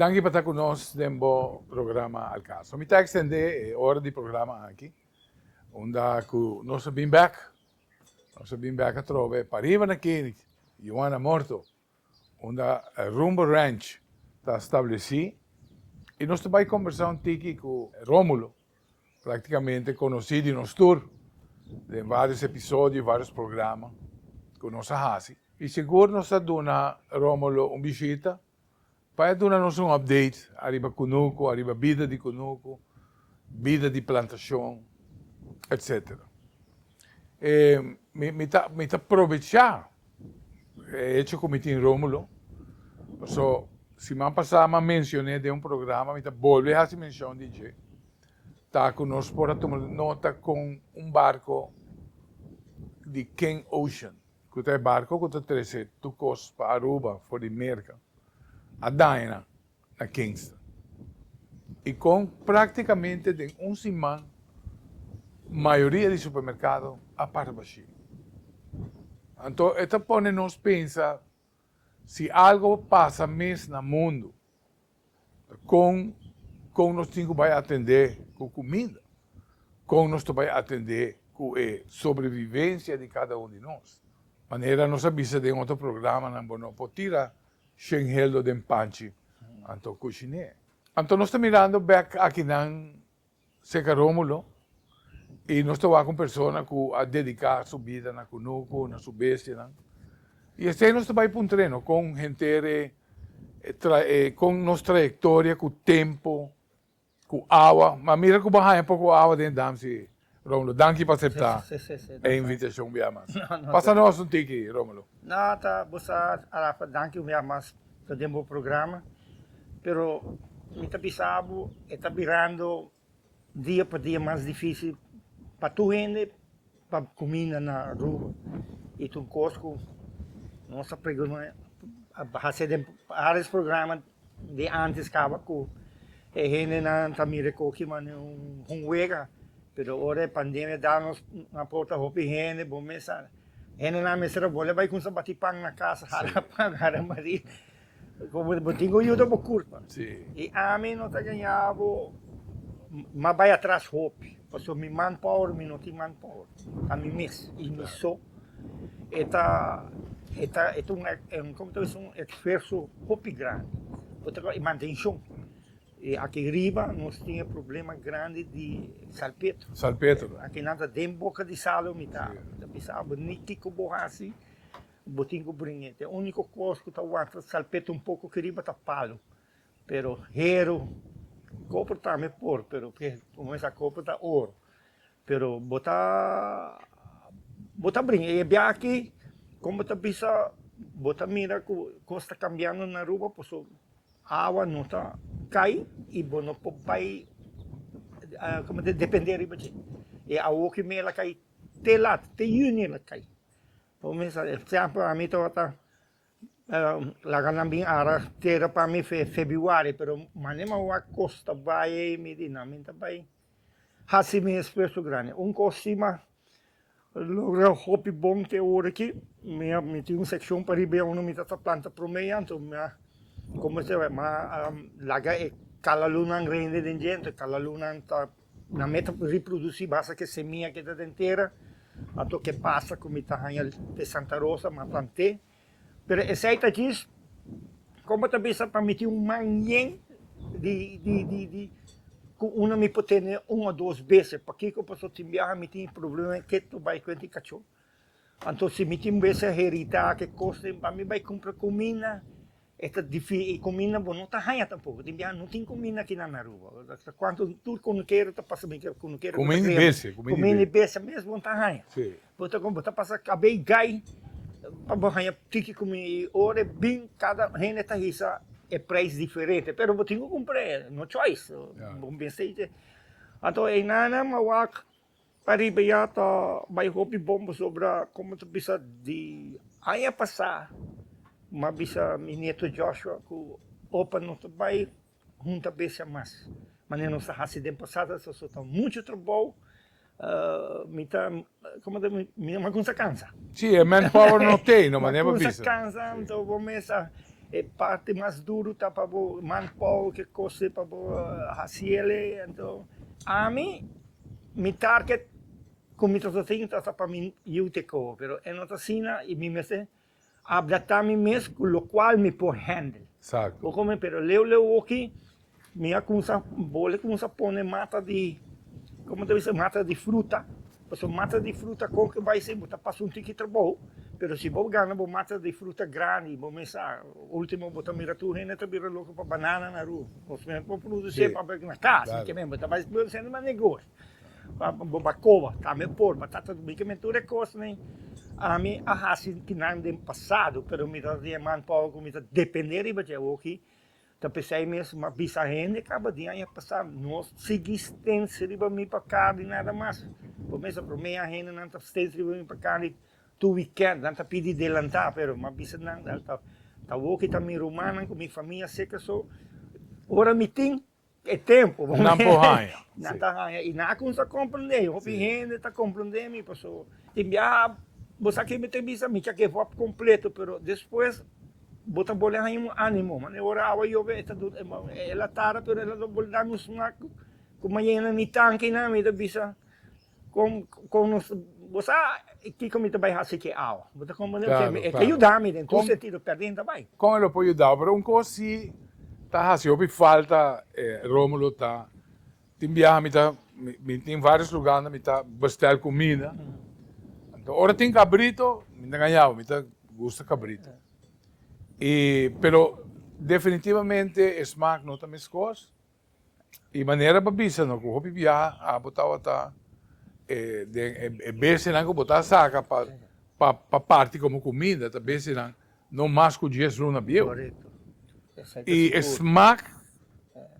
Danki pa ta ku nos den bo programa Al Caso. Mi ta ekstendé e ora di programa aki unda ku nos a bin bèk. Nos a bin bèk atrobe pariba na Kenneth, Juana Morto. unda Rumbo Ranch ta stablesí i nos ta bai kombersá un tiki ku Rómulo, práktikamente konosí di nos tur den vários episodio i vários programa ku nos a hasi. I segur nos ta duna Rómulo un bishita Pa e duna nos un update ariba Kunuku, ariba bida di Kunuku, bida di plantashon, etc. E mi mi ta mi ta probecha e hecho ku mi tin Romulo, paso siman pasá mi a mensioné den un programa, mi ta bolbe hasi menshon di dje, ta ku nos por a tuma nota kon un barko di King Ocean, ku ta e barko ku ta trese tur kos pa Aruba for di Merka a daña na Kingston i kon praktikamente den un siman mayoria di supermerkado a para bashí. Anto e ta pone nos pensa si algo pasa mes na mundu Kon kon nos tin ku bai atendé ku kuminda? Kon nos ta bai atendé ku e sobrevivensia di kada un di nos? Manera nos a bisa den otro programanan bo no por tira shenheldo den panchi, anto kushiné. Anto nos ta mirando bèk akinan Seca Romulo, y nos ta wak un persona cu a dedica su bida na cunucu, na su bestianan. Y esey nos ta bay puntreno con henter e, e, con nos trayectoria cu tempo, cu awa. Ma mira cu bo a haña poco awa den e dam si, Romulo. Danki pa acepta e invitacion, biamas. Pasa nos un tiki, Romulo. Na ta bo sa Arafa danki un bia mas ta den bo programa pero mi ta bisa bo e ta birando dia pa dia mas difisil pa tur hende pa cuminda na Aruba y tur cos cu nos ta preguna a hasi den aris programa di antes caba cu e hendenan ta mira cu oki manera un hunwega, pero ora e pandemia da nos un aporta hopi hende, bo mester sa, hendenan mester a boli a bai cuminsa bati pan na casa, hara pan, hara mari, como bo tin cu yuda bo culpa, y ami no ta gaña bo mas bai atras hopi, pasobra mi manpower, mi no tin manpower, ta mi mes y mi so. e ta e ta e ta un como ta bisto un esfuerso hopi grandi por ta kos e mantenshon y aki riba nos tin e problema grandi di salpetro salpetro aki nan ta den boka di salo mi ta bisa bo ni kiko bo hasi bo tin ku bringe te uniko kos ku ta wanta salpetro un poko aki riba ta palo pero hero kopro tambe por pero por mesa kopro ta oro Pero bo ta bo ta bringa e biachi con bo ta bisa bo ta mira cu cos ta cambiando na Aruba paso awa no ta cay y bo no por bay como ta depende riba dje e awa hopi mey a la cay te lata te juni a la cay por ejemplo ami tabata Laga nan bin ara tera pa mi fe Febiuari, pero mane mi a wak kos ta bai ei, mi di nan, mi ta bai hasi mi esfuerso grandi. Un kos si mi a logra hopi bon te ora aki, mi a, mi tin un sekshon pariba ei unda mi ta ta planta promé ei, anto mi a, mi a laga e kalalunan rende den djenter, kalalunan ta Na me ta reproduci basa ke semia ke ta den tera, a tok e pasa ku mi ta haña te Santa Rosa m'a plant'é, pero esei ta djis kon bo ta bisa pa miti un man yen di di ku unda mi por tene un o dos bese, pakiko? Paso tin biaha mi tin e problema e ke to bai kuent i kachó, anto si mi tin bese herita ke kos den pa mi bai kumpra kuminda E ta difi i cuminda bo no ta haya tampoco. Tin biaha no tin cuminda aki na Aruba. Ta cuanto tur cunukero ta pasa mi tur cunukero ta cuminda di bese. Cuminda di bese mes bo no ta haya. Si. Bo ta con bo ta pasa cabe i gai pa bo haya tiki cuminda i ora e bin cada hende ta hisa e prijs diferente pero bo tin cu cumpra e no choice. Ya. Bo mester. Anto e nana mawak Ariba ya ta bai hopi bon pasobra como ta bisa di aña pasa mi a bisa mi nieto Joshua cu opa nos ta bai hunta bestia mas manera nos a haci den pasado so ta mucho trabou mi ta como ta mi no a cunsha cansa. Si e manpower no t'e no manera bo bisa. No a cunsha cansa anto bo mesa e parti mas duro ta pa bo manpower ke cose pa bo haci ele anto ami. Mi target cu mi ta sa sin ta sa pa mi yiu te coho, pero e no ta asina y mi mester abdata mi mes cu locual mi por handle. Bo comprende? Pero leu leu oki mi a cumsa, bole cumsa pone mata di, como ta bisti? Mata di fruta, pasobra mata di fruta con cu bay sin bo ta pasa un tiki trabou, pero si bo gana bo mata di fruta grandi bo mester, ultimo bo ta mira tur hende ta bira loco pa banana na ru. Of nan por produce e papel na cas, mi ke men bo ta bai bo sende mas negoshi pa bo ba koba, tambe por pa tata tu bike men tur e kosnan ami a hasi di nan den pasado pero mi ta tin e man power ku mi ta depende riba dje awoki ta p'esei mes mi a bisa hende kaba di aña pasa no sigui stens riba mi pa kar di nada mas, bo mes a bromea hende nan ta stens riba mi pa kar di Tu weekend nan ta pidi delanta pero ma bisa nan al ta ta woki ta mi rumannan ku mi famia seka so ora mi tin e tempo bo nan por haña nan ta haña i nan a kumsa komprende i hopi hende ta komprende mi paso tin biaha bo sa ki'e mi ta bisa mi kier ke wòrd kompleto pero despues bo ta bole haña un animo man e ora awa yobe e ta duna e la tara pero e ta bole duna un smak ku mayena mi tankinan mi ta bisa. Kon kon nos bo sa kiko mi ta bai hasi aki awa? Bo ta komprende loke mi e ta yuda mi den tur sentido perdin ta bai. Kon e lo por yudao pero un kos si ta hasi hopi falta e Romulo ta tin biaha mi ta mi tin varios luga unda mi ta bestel kumida anto ora tin kabrito mi ta ngañao mi ta gusta kabrito y pero definitivamente e smak no ta meskos. E manera pa bisa no ku hopi biaha abo tabata e den e bestianan ku bo ta saka pa pa parti komo kuminda ta bestianan no mas ku dies luna bieu. I e smak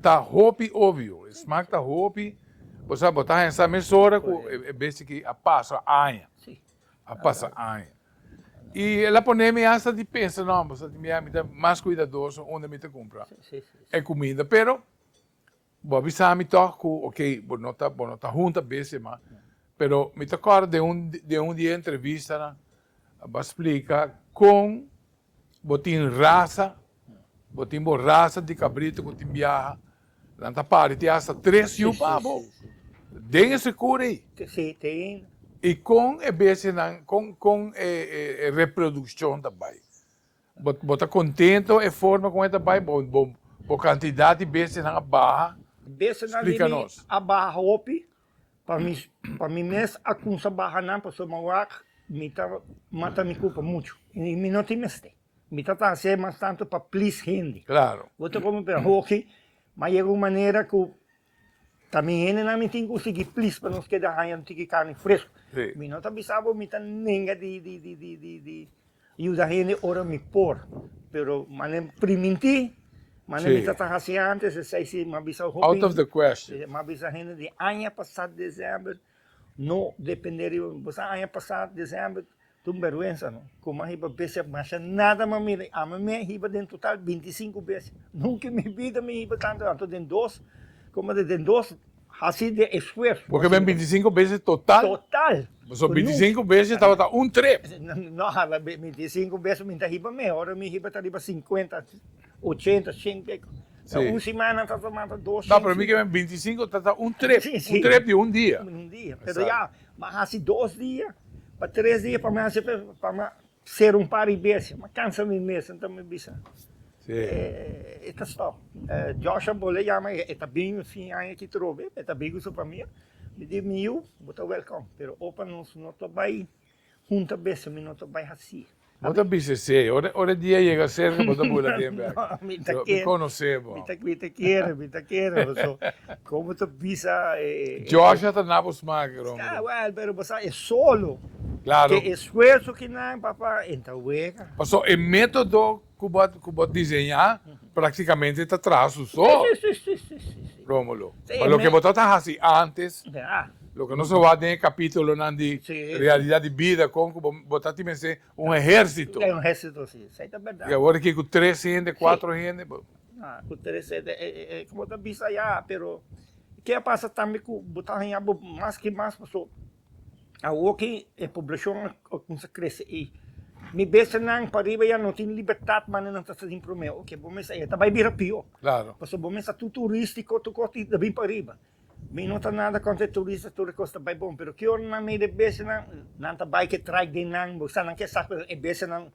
ta hopi obvio, e smak ta hopi bo sa bo ta haña sa mesora ku e besti aki a pasa aña. a pasa aña. I el a pone mi hasta di pensa, no, bo sa di mi, mi ta mas kuidadoso unda mi ta kumpra e kuminda. Pero, bo a bisa mi tòg ku okey, bo no ta, bo no ta hunta bese mas. Pero mi ta kòrda den un, den un di e entrevistanan, bo a splika kon Bo tin rasa, bo tin bo rasa di cabrito cu tin biaha, nan ta pari tin hasta tres yu pa bo den e secur ey. Te sete ayina. Y con e bestianan, con, con e, e, e reproduccion ta bay? Bo, bo ta contento e forma con e ta bay? Bo, bo, bo cantidad di bestianan a baha? Bestianan di mi a baha hopi. pa mi pa mi mes a kumsa baha nan pasobra mi wak mi ta mata mi kupa muchu i mi no tin mester, mi ta trahasé mas tantu pa plis hende. Klaro. Bo ta komo bira hoki, ma yega un manera ku ta mi hendenan mi tin ku sigui plis pa nos keda haña un tiki karni fresku. Si. Mi no ta bisa bo mi ta nenga di di di di di di. Yuda hende ora mi por, pero mane pri minti, mane mi ta ta hasi antes, esei si mi a bisa hopi. Out of the question. Mi a bisa hende di aña pasa december no depende riba mi, bo sa aña pasa december ta un berwensa no, con mi a hiba bes a masha nada mi a mira, ami mi a hiba den total binti sinku bes, nunca en mi bida mi hiba tantu, anto den dos, como ta den dos Hasi den esfuerso. Porque ben bintisinko bese total. Total. So bintisinko bese tabata un trip. No, bintisinko bese mi ta hiba mes, ora mi hiba ta riba sinkuenta, ochenta, shen kiko. Si. Ta un simana ta tamanta dos, shen. No, pero mi ke ben bintisinko tata un trip. Si, si. Un trip di un dia. Un dia. Pero ya, mi a hasi dos dia, pa tres dia pa mi hasi pa mi. Ser un pari besia, m'a cansa mi mes, enton mi bisa e ta stop. Josh a bol'é yama, e ta bini un fin aña aki trobe, e ta bai ku su famia. Mi di, Mi yu, bo ta wèlkòm, pero opa nos no ta bai hunta besia, mi no ta bai hasí. Bo ta bisa esei, ora e dia yega serka bo ta bula den bèk. So, mi konos'é bo. Mi ta kere, mi ta kere bo. So, kon bo ta bisa e. Josh a ta na bo sma aki rompe. Sta wèl, pero bo sa e solo. Klaro. Sfuerso ki nan papá en ta wega. Paso e metodo ku bo ku bo diseñá praktikamente ta traha su so. Si si si si si si. Rómulo, pa loke bo ta ta hasi antes, Ya. loke nos a wak den e kapítulonan di Si. realidat di bida kon ku bo bo ta tin mester un ehérsito. Ya un ehérsito si, esei ta bèrdat. I awor aki ku tres hende, kuatro hende bo. Ya ku tres hende e e e ku bo ta bisa ya, pero ke a pasa tambe ku bo ta haña bo mas ki mas paso. Awor ki e poblashon a kumsa krese i mi bese nan pariba ya no tin libertat manera nan ta sa den promé, oke bo mester e ta bai bira pió. Claro. Pasobra bo mester ta tur turístiko, tur kos ta bin pariba. Mi no ta nada kontra e turistas, tur e kos ta bai bon, pero ki ora nan mira e besenan, nan ta bai ke traik den nan, bo sa nan ke sa ku e besenan,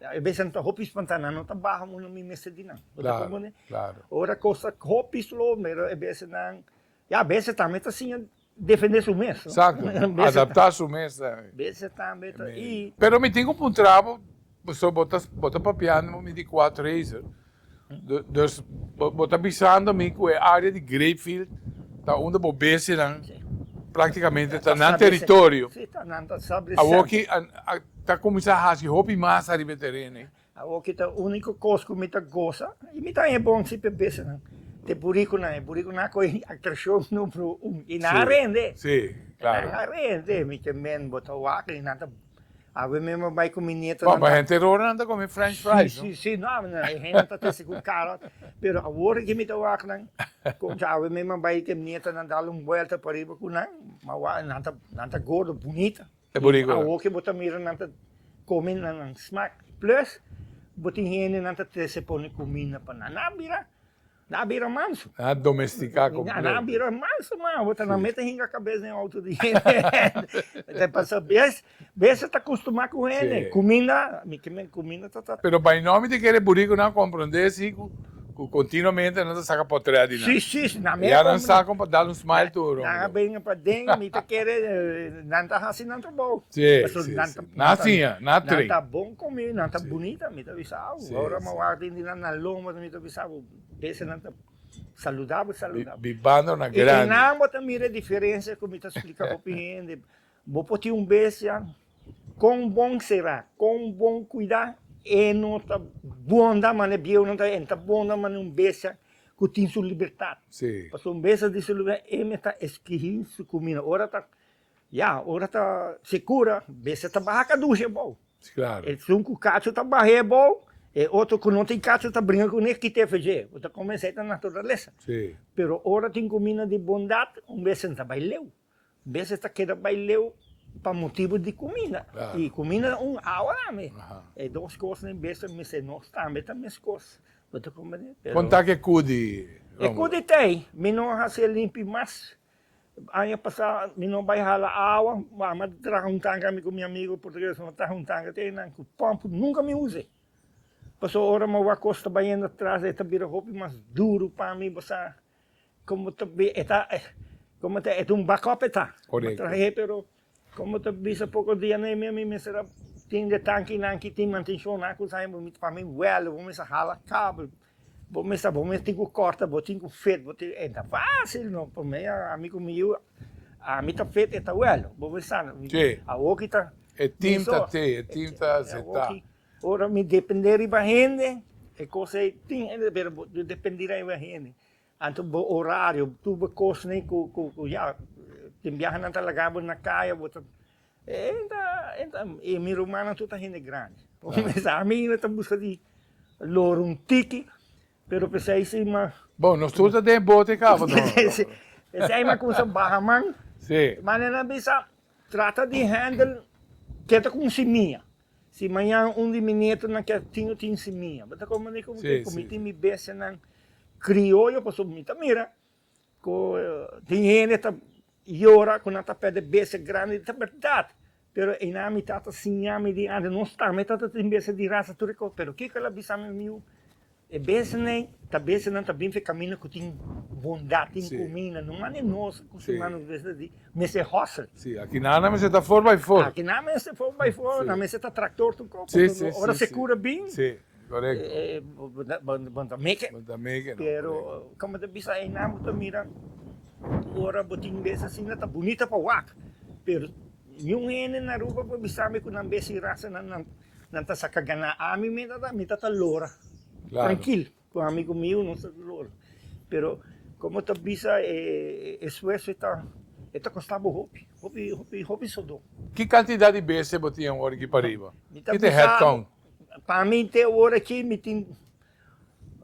e besenan ta hopi spantá, nan no ta baha un a mi mester di nan. Bo ta komprende? Claro, claro. Ora kos ta hopi slo, mira e besenan, ya bese tambe ta siña Defende su mes no. Exacto. Adapta su mes ta. Bese tambe ta y. Pero mi tin ku puntra bo, pasobra bo ta bo ta papiando bo mi di Quad Racer. Dus bo ta bisando mi ku e área di Grapefield ta unda bo besenan práktikamente ta nan teritorio. Awor ki ta kuminsá hasi hopi mas ariba e teren ei. Awor ki ta úniko kos ku mi ta gosa i mi ta haña bon si p'e besenan. Te burikunan, e burikunan a kohe atrashon número un i nan a rende. Nan a rende, mi ke men bo ta wak i nan ta Awe mi a bai ku mi nieto. Bon, pa henter ora nan ta kome french fries, no? Sí, sí, no, e hende ta trese ku karo, pero awor aki mi ta wak nan, konta awe mi a bai i te nieto nan dal un buelta pariba ku nan, mi a wak nan ta gordo bunita. E bonico. I awo ke bo ta mira nan ta come na nan smaak. Plus bo tin hende nan ta trese pone cuminda pa nan. Nan a bira, nan a bira manso. Nan a domestica completo. Nan a bira manso man. Awo ta nan mete hinga cabes den auto di hende. Pasa bes, bes a ta costuma cu hende. Cuminda, mi ke men cuminda ta ta. Pero by now mi ta kere boriconan comprende si cu. Cu continuamente nan ta saca potret di nan. Si, si, nan mey a comp. Ya nan sa con pa dal un smile tur, hombre. Nan a bringa pa den, mi ta kere nan ta haci nan trabou. Si, si, si. Nan ta. Nan a siña, nan a train. Nan ta bon con mi, nan ta bunita, mi ta bisa abo. Si, si. Ora mi a wak den di nan na loma, mi ta bisa abo, bese nan ta saludabo, saludabo. Bibando na grandi. Y nan bo ta mira e diferencia cu mi ta splica hopi hende. Bo por tin un bestia, kon bon sera, kon bon kuida, e no ta bonda manera bieunan ta, e no ta bonda manera un bestia ku tin su libertat. Pasobra un bestia tin su libertat, e mester eskihí su kumina. Ora ta, ya, ora ta sekura, bestia ta baha kadushi abou. Esun ku kachu ta bah'é abou, e otro ku no tin kachu ta bringa kuné a kit'é afeji'é. Bo ta kome esei ta naturalesa. Pero ora tin kumina di bondat, un bestia no ta bai leu. Beses ta keda bai leu pa motibu di kuminda. I kuminda na un awa tambe. E dos kosnan beses mester nos tambe ta meskos. Bo ta komprendé? Pero. Kon ta ke kudi, Romulo? E kudi ta ei, mi no a hasi e limpi mas. Aña pasá mi no bai hala awa, a mi a traha un tanka, mi ku mi amigu portuguesnan a traha un tanka. Te nan ku pòmp nunka mi usa ei. Pasobra ora mi a wak kos ta bayendo atras, e ta bira hopi mas duru pa mi, bo sa. Como ta bi e ta como ta e ta un backup e ta. Correcto. Matra he pero como ta bisa poco dia na e mes mi mester a tin de tankinan ki tin mantencionnan cosa he bo mi ta pami wèlda bo mester a hala kabel bo mester bo mester tin ku kòrta bo tin ku fit bo tin e ta fácil no pa mi ami ku mi yu ami ta fit e ta wèl bo mester sa no Ke? awoki ta E tim ta te e tim ta setá. Ora mi dependé riba hende, e kos ei tin hende, pero bo no dependí riba hende. Anto bo orario, tur bo kosnan ku, ku, ku ya, tin biaha nan ta laga bo na kaya, bo ta, e ei ta, ei ta, i mi rumannan tur ta hende grandi. Ora mi sa ami no ta buska di loro un tiki, pero p'esei si mas. Bon, nos tur ta den bote kaba no. Si, p'esei mas kumsa baha man. Si. Manera nan bisa, trata di handle, keda ku un simia. Si mañan un di mi netonan kier tin un tin sin mi, bo ta kon manera ku mi ke ku mi tin mi bestianan krioyo, pasobra mi ta mira ku tin hende ta yora ku nan ta pèrdè bestia grandi, ta bèrdat, pero einan mi tata siña mi di ante, nos tata mi tata tin bestia di rasa tur e kos, pero kiko el a bisa mi? E besenan ta besenan ta bin fe camina cu tin bondad, tin cumina, no mane nos cu tin mane nos ta di mester hustle. Si, aki nan nan mester ta for by for. Aki nan mester for by for, nan mester ta tractor tu cor, porque ora se cura bin, bo ta make it, pero como ta bisa Heinan bo ta mira ora bo tin bese asina ta bunita pa wak, pero niun hende na Aruba por bisambe cu nan bese y rasanan nan Nan ta saka gana ami meda ta mita ta lora trankil ku amigo miu nos ta lora pero komo ta bisa e esfuerso e ta e ta kosta bo hopi hopi hopi hopi sudó. Ki kantidat di bese bo tin e un ora aki pariba? Mi ta bisa bo pa mi te e ora aki mi tin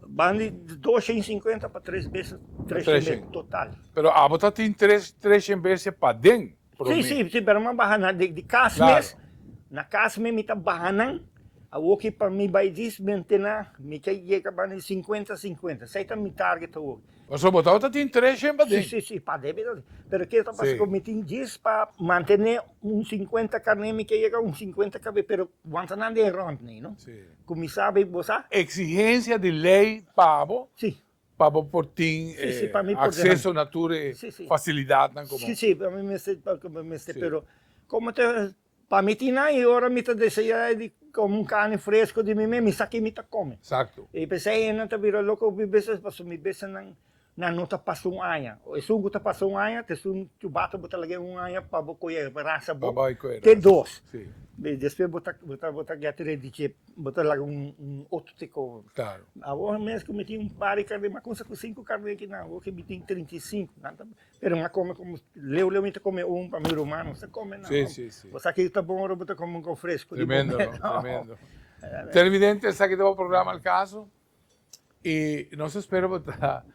ban di dos shen sinkuenta pa tres bese tres shen bese total. Pero abo ta tin tres tres shen bese paden. promé. Sí, sí, sí, pero mi a baha nan den di kas mes, na kas mes mi ta baha nan, awoki pa mi bai dismente na, mi ke yega bani di sinkuenta, sinkuenta, esei ta mi target awoki. Pasobra bo tabata tin tres hemba den. Sí, sí, sí, pa debe ta así, pero ke ta pasa ku mi tin djis pa mantené un sinkuenta karné, mi ke yega un sinkuenta kabes, pero wan ta nan den rònt nei, no? Sí. Ku mi sa, bo sa? Eksigensia di lei pa bo, Pa bo por tin acceso na tur e facilidadnan cu bo. Si, si, pa mi mester, pa mi mester, pero como ta, pa mi tin nan y ora mi ta desea di come un carne fresco di mi mes, mi sa ki mi ta come. Exacto. Y p'esei hendenan ta bira loco hopi beses pasobra mi bisa nan, nan no ta pasa un aña. Esun cu ta pasa un aña, t'esun chubata bo ta laga un aña pa bo coye rasa bo, te dos. Despues bo ta, bo ta, bo ta get ready chip. Bo ta laga un otro te coba. Claro. Awor mes cu mi tin un par di carne, mi a cunsha cu cinco carne kinan awor que mi tin trinta y cinco. Nan ta bini. Pero mi a come como leu leu mi ta come un pa mi ruman no sa come nan. Si, si, si. Bo sa kico ta bon ora bo ta come un con fresco di bobe. Tremendo, no? Tremendo. Televidente, esaki ta bo programa El Caso y nos ta spera bo ta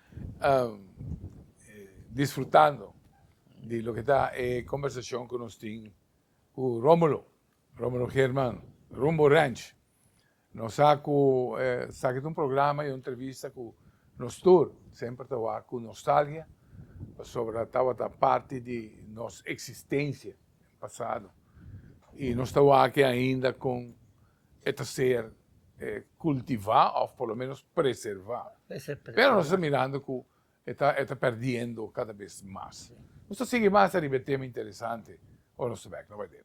disfrutando di loke ta e conversacion cu nos tin cu Romulo. Romero German, Rumbo Ranch, Nos sa cu esaki ta un programa y un entrevista cu nos tur semper ta wak cu nostalgia pasobra tabata parti di nos existencia den pasado y nos ta wak ainda con e ta ser cultiva of por lo menos preserva. Pero nos ta mirando cu e ta perdiendo cada bes mas. Nos ta sigui mas ariba e tema interesante ora nos ta bek. No bay leu.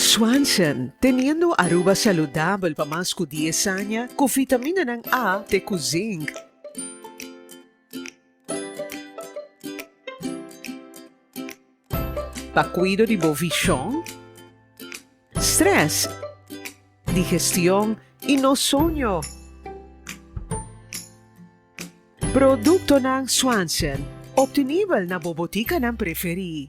Swanson, Teniendo Aruba Saludabel pa Mas Cu Dies Aña, Cu Vitaminanan A te cu Zinc. Pa cuido di bo vision, stress, digestion y no soño. Productonan Swanson, obtenibel na bo boticanan preferi.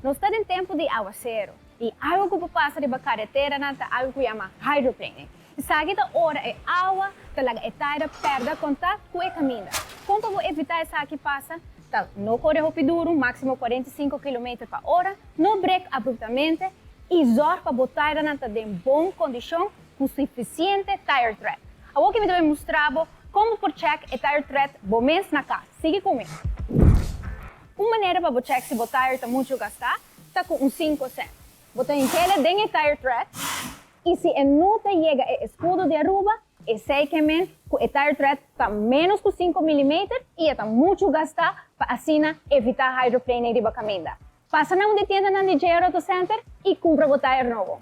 Nos ta den tempu di aguasero i awa ku por pasa riba kareteranan ta algu ku yama hydroplaning. Esaki ta ora e awa ta laga e taira pèrdè kontakt ku e kaminda. Kon pa bo evitá esaki pasa? Ta no kore hopi duru, máksimo kuarenta i sinku kilometer pa ora, no brek abruptamente i zòrg pa bo tairanan ta den bon kondishon cu suficiente tire thread. Awor ke mi ta bai mustra bo con bo por check e tire thread bo mes na cas. Sigui cu mi. Un manera pa bo check si bo tire ta mucho gasta ta cu un cinco cent. Bo ta hinkele den e tire thread y si e no ta yega e escudo di Aruba, esey ke men cu e tire thread ta menos cu cinco milimeter y e ta mucho gasta pa asina evita hydroplaning riba caminda. Pasa na un di tiendanan di JR Auto Center y cumpra bo tire nobo.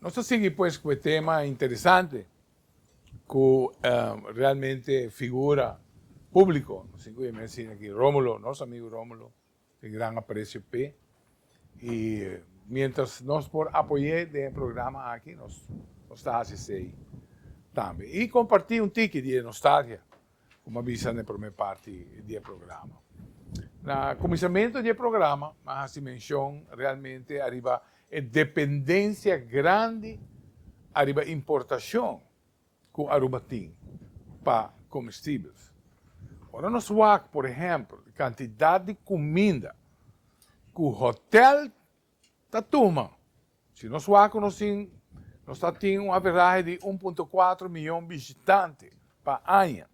Nos ta sigui pues cu e tema interesante cu realmente figura publico, nos tin cu e mes in aki Romulo, nos amigo Romulo, tin gran aprecio p'e y mientras nos por apoy'e den e programa aki nos ta haci esey tambe y comparti un tiki di e nostalgia. Como a bisa na e prome parti di e programa. Na cuminsamentu di e programa a haci mencion realmente ariba e dependencia grandi ariba importacion cu Aruba tin pa comestibels. Ora nos wak, por ehempel, e cantidad di cuminda cu hotel Ta tuma. Si nos wak ku nos tin, nos ta tin un averahe di un punto kuater miyon bishitante pa aña.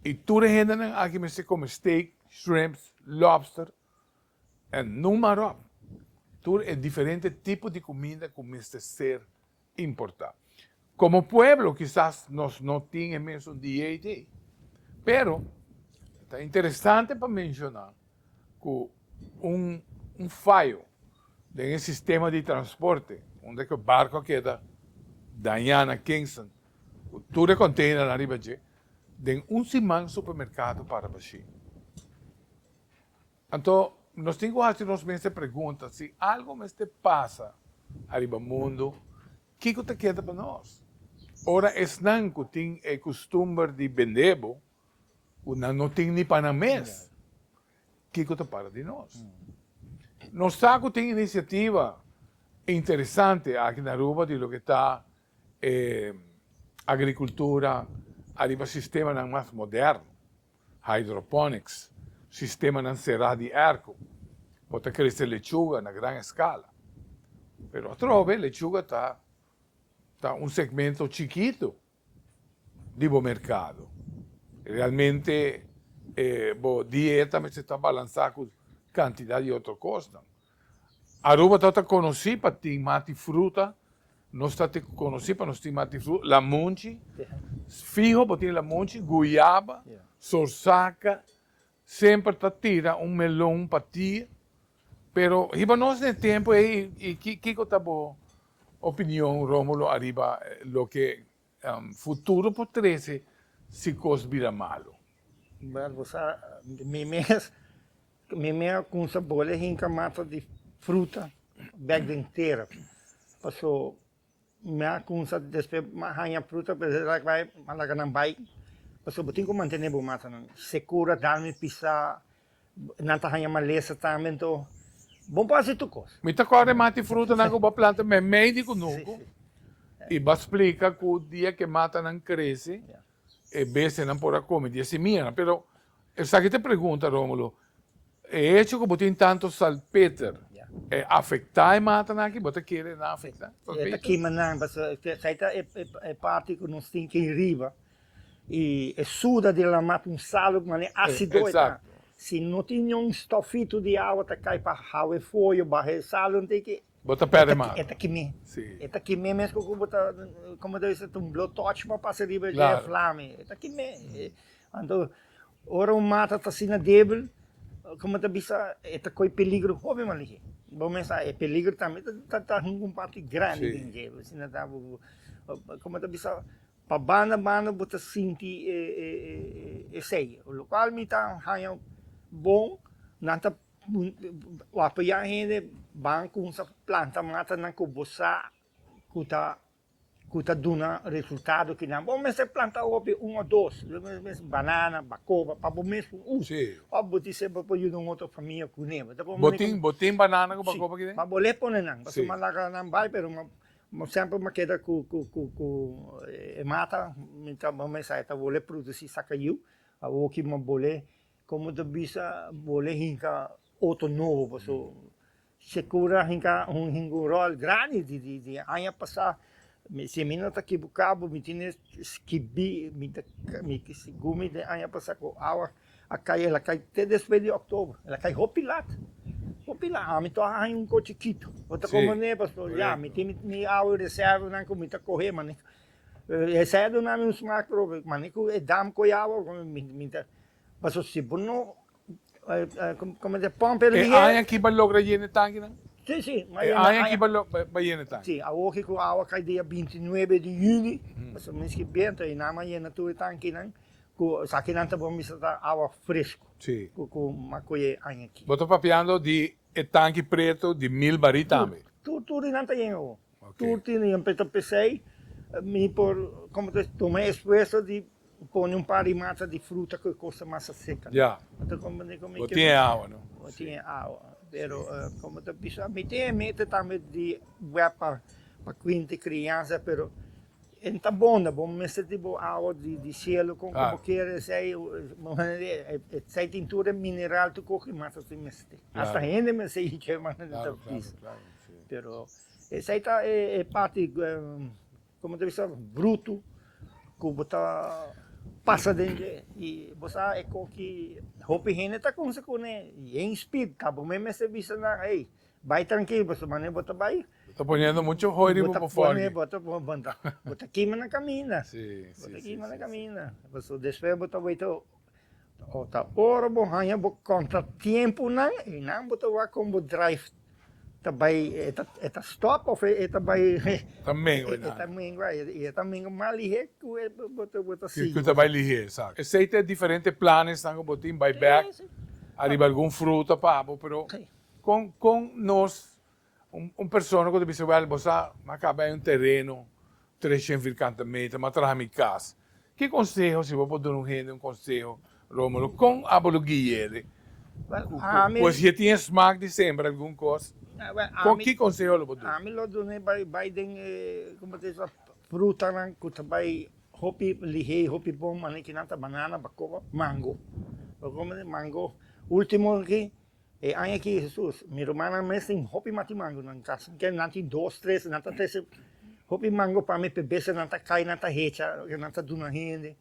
I tur e hendenan aki mester kome steak, shrimps, lobster en numa ròp. Tur e diferente tipo di kuminda ku mester ser Importá. Komo pueblo kisas nos no tin e mesun DAD, pero ta interesante pa menshoná ku un un fayo den e sistema di transporte unda ku e barko a keda dañá na Kingston ku tur e konteinernan riba dje, den un siman supermerkado para bashí. Anto, nos tin ku hasi nos mes e pregunta, Si algu mester pasa ariba mundu, kiko ta keda pa nos? Ora esnan ku tin e kustumber di bend'é bo, ku nan no tin ni pa nan mes, kiko ta para di nos? Nos sa ku tin inisiativa interesante aki na Aruba di loke ta e agrikultura ariba sistemanan mas moderno. hydroponics, sistemanan será di erko, bo ta krese lechuga na gran eskala. Pero atrobe lechuga ta ta un segmento chikito di bo merkado. Realmente e bo dieta mester ta balansá ku kantidat di otro kosnan. Aruba ta ta conoci pa tin mati fruta, nos ta te conoci pa nos tin mati fruta, lamunchi, fiho bo tin lamunchi, guyaba, sorsaca, semper ta tira un melon pa ti, pero hiba nos n'e tempo ey y kico ta bo opinion Romulo ariba loke Futuro por trece si cos bira malo. Bel bo sa mi mes mi mes a cumsa bole hinca mata di fruta bek den tera paso mi a cumsa despe mi a hanja fruta mi a laga nan bay paso bo tin cu mantene bo matanan secura darmi pisa. Nan ta haña malesa tambe, to bon por hasi tur kos. Mi ta kore mata e frutanan ku bo a planta meimei di ku nunku, i bo a splika ku dia ku e matanan krese, e bestianan por a kome di e simianan. Pero esaki ta e pregunta, Rómulo, E hecho ku bo tin tantu salpeter e afektá e matanan aki? Bo ta kere nan afektá? E ta kima nan, pasobra esei ta e parti ku nos tin ke riba. Y e suda di lama ta un salu mane asido e ta. Si no tin niun stofito di awa ta cay pa hawa e foyo baha e salu nta ki. Bo ta perde mas. E ta kime. E ta kime mes cu bo ta, como ta bisa, ta un blowtorch bo a pasa riba e dje flami. E ta kime. Anto, ora un mata ta asina debil, como ta bisa, e ta coy peligro hopi mas lihé. Bo mes sa e peligro tambe ta hunga un parti grandi den dje, asina ta bo, como ta bisa. Pa banda mano bo ta sinti esey, lo cual mi ta haña bon, nan ta wapiya hende ban cuminsa planta matanan cu bo sa cu ta cu ta duna resultado cu nan, bo mester planta hopi un o dos, lo mes banana, bacoba, pa bo mes un uso, of bo dice bo por yuda un otro famia cu ne, bo tin bo tin banana cu bacoba? Si, ma bo ley pone nan, pasobra bo a laga nan bay pero. Bo semper m'a keda cu e mata mientras bo mesa e ta bole produci sacayiu. Awor ki m'a bole, como ta bisa, bole hinca otro nobo paso secura hinca un rol grandi di aña pasa. Si mi no ta equibuca bo mi tine scibi, mi ta, segun mi den aña pasa cu awa. A cay el a cay te despues di october el a cay hopi lat hopi lat ami to a haña un coche chikito bo ta como ne pastor ya mi tin mi awe reservanan cu mi ta coge mane e sea do nami un smart truck mane cu e dam coyawa mi ta paso si bo no como se pump el di e aña ki ba logra yena e tanki nan? si si e aña ki ba yena e tanki si awoki cu awa cay dia binti nuebe di juli paso miskien biento e nan a yena tur e tankinan Cu esakinan ta bon mester ta awa fresco. Sí. Cu cu macoye aña ki. Bo ta papiando di e tanki preto di mil barí tambe? Tur. Tur tur di nan ta yen awo. Ok. Tur tin di nan pe ta pesey. Mi por, como ta esp, tuma e esfuerso di pone un par di mata di fruta cu e cos ta masa seca. Ya. Mi ta comprende cu mi. Bo tin e awa, no? Bo tin e awa. Pero, como ta bisa, mi tin e meta tambe di web pa cuinti crianza, pero. E ta bonda, bo mester tin bo awa di cielo con cu bo quier esey, esey tintura e mineral tu cu ki mas así mester tin. Hasta hende mester yin cay manda di ta pisa. Pero esey ta e parti, como ta bisa, bruto cu bo ta pasa den dje. Y bo sa e con ki hopi hende ta conse cune, yen speed, ta bo mes mester bisa nan, hey, Bai trankil boso mane bo ta bai. Bo ta poniendo mucho hoy riba bo for aki. Bo ta pone bo ta kima na kaminda. Si si si si. Bo ta kima na kaminda. Paso despues bo ta wete o ta ora bo haña bo kontra tiempo nan i nan bo ta wak kon bo drive ta bai e ta stop of e ta bai. Ta mengua nan. E ta mengua i e ta mengua mas lihé ku e bo ta bo ta sigui. Ku ta bai lihé exacto. Esei ta e diferente planesnan ku bo tin bai bek ariba algun fruta pa abo pero. Kon kon nos un persona ku ta bisa wèl bo sa a kaba en un tereno treshent virkante meter m'a traha mi kas ki konseho si bo por duna un hende un konseho Rómulo kon a bo lo gui'éle pues e tin e smak di sembra algun kos kon ki konseho lo bo duna. Ami lo dun'é bai bai den e como ta esua frutanan ku ta bai hopi lihé i hopi bon manekinan ta banana bakoba mango mango último aki. E aña aki Hesus mi rumannan mes tin hopi matimango nan kas ke nan tin dos tres nan ta trese hopi mango pa mi pe bese nan ta kai nan ta hecha loke nan ta duna hende